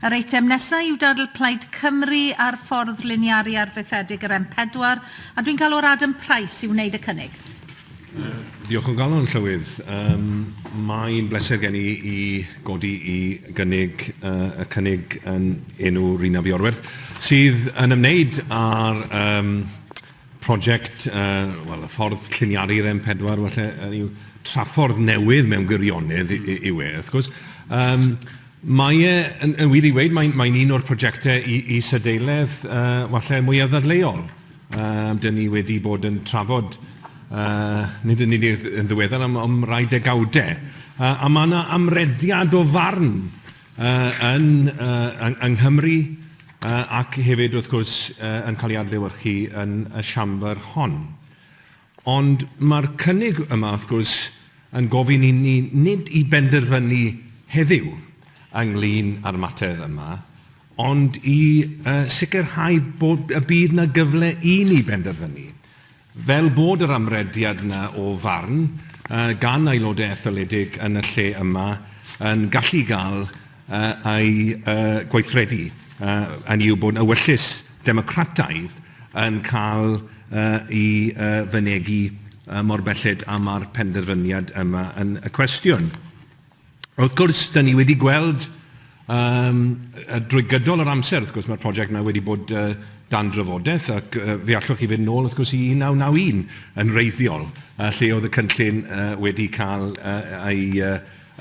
Yr eitem nesaf yw dadl Plaid Cymru ar ffordd liniaru arfaethedig yr M4, a dwi'n galw ar Adam Price i wneud y cynnig. Diolch o galon, Llywydd. Mae'n bleser gen i i godi i gynnig y cynnig yn enw Rhun ap Iorwerth, sydd yn ymwneud â'r Project, wel, y ffordd lliniaru'r M4 falle, hynny yw, traffordd newydd mewn gwirionedd yw e, wrth gwrs. Mae e, yn wir i weud, mae'n un o'r projectau is-adeiledd falle mwyaf ddadleuol dan ni wedi bod yn trafod, nid yn unig yn ddiweddar, ond am rai degawdau. A mae 'na amrediad o farn yn Nghymru, ac hefyd, wrth gwrs, yn cael ei adlewyrchu yn y siambr hon. Ond mae'r cynnig yma, wrth gwrs, yn gofyn i ni nid i benderfynu heddiw ynglyn â'r mater yma, ond i sicrhau bod y bydd yna gyfle i ni benderfynu. Fel bod yr amrediad 'na o farn gan aelodau etholedig yn y lle yma yn gallu gael ei gweithredu, hynny yw bod ewyllys democrataidd yn cael ei fynegi mor belled â ma'r penderfyniad yma yn cwestiwn. Wrth gwrs, dan ni wedi gweld yym yy drwy gydol yr amser, wrth gwrs, mae'r prosiect yma wedi bod yy dan drafodaeth ac yy fe allwch chi fynd nôl wrth gwrs i 1991 yn wreiddiol yy lle oedd y cynllun yy wedi cael yy ei yy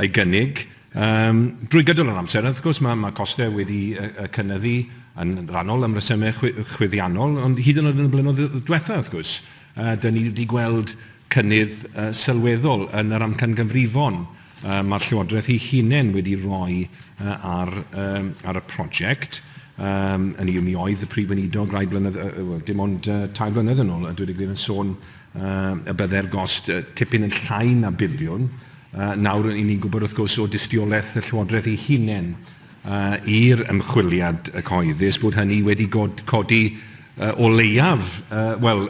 ei gynnig yym drwy gydol yr amser. Wrth gwrs, mae mae costau wedi yy yy cynyddu yn rhannol am resymau chwi- chwyddiannol ond hyd yn oed yn y blynyddoedd diwethaf wrth gwrs yy dan ni wedi gweld cynnydd sylweddol yn yr amcangyfrifon mae'r Llywodraeth ei hunain wedi rhoi ar y prosiect. Hynny yw, mi oedd y Prif Weinidog rai blynedd, wel, dim ond tair blynedd yn ôl, a dweud y gwir, yn sôn y byddai'r gost tipyn yn llai na biliwn. Nawr, ry'n ni'n gwybod, wrth gwrs, o dystiolaeth y Llywodraeth ei hunain i'r ymchwiliad cyhoeddus bod hynny wedi codi o leiaf, wel,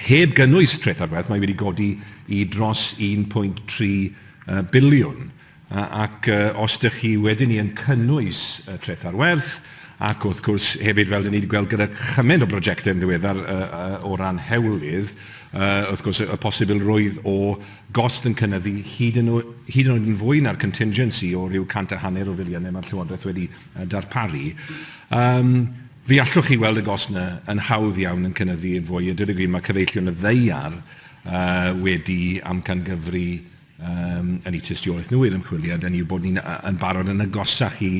Heb gynnwys treth ar werth, mae wedi godi i dros 1.3 biliwn. Ac os dych chi wedyn yn cynnwys treth ar werth, ac wrth gwrs hefyd fel dyn ni wedi gweld gyda chymaint o brojectau yn ddiweddar o ran hewlydd, wrth gwrs y posibilrwydd o gost yn cynyddu hyd yn oed yn fwy na'r contingency o ryw cant a hanner o filiynau mae'r Llywodraeth wedi darparu. Fe allwch chi weld y gost yna yn hawdd iawn yn cynyddu yn fwy. A dweud y gwir, mae cyfeillion y ddaear uh, wedi amcangyfri um, yn eu tystiolaeth nhw i'r ymchwiliad, yn yw bod ni'n yn barod yn agosach i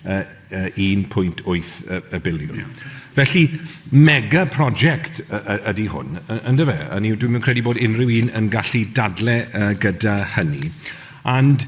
uh, uh, 1.8 y, y biliwn. Yeah. Felly, mega prosiect ydy hwn, yn dyfa. Yn yw, dwi'n credu bod unrhyw un yn gallu dadle uh, gyda hynny. And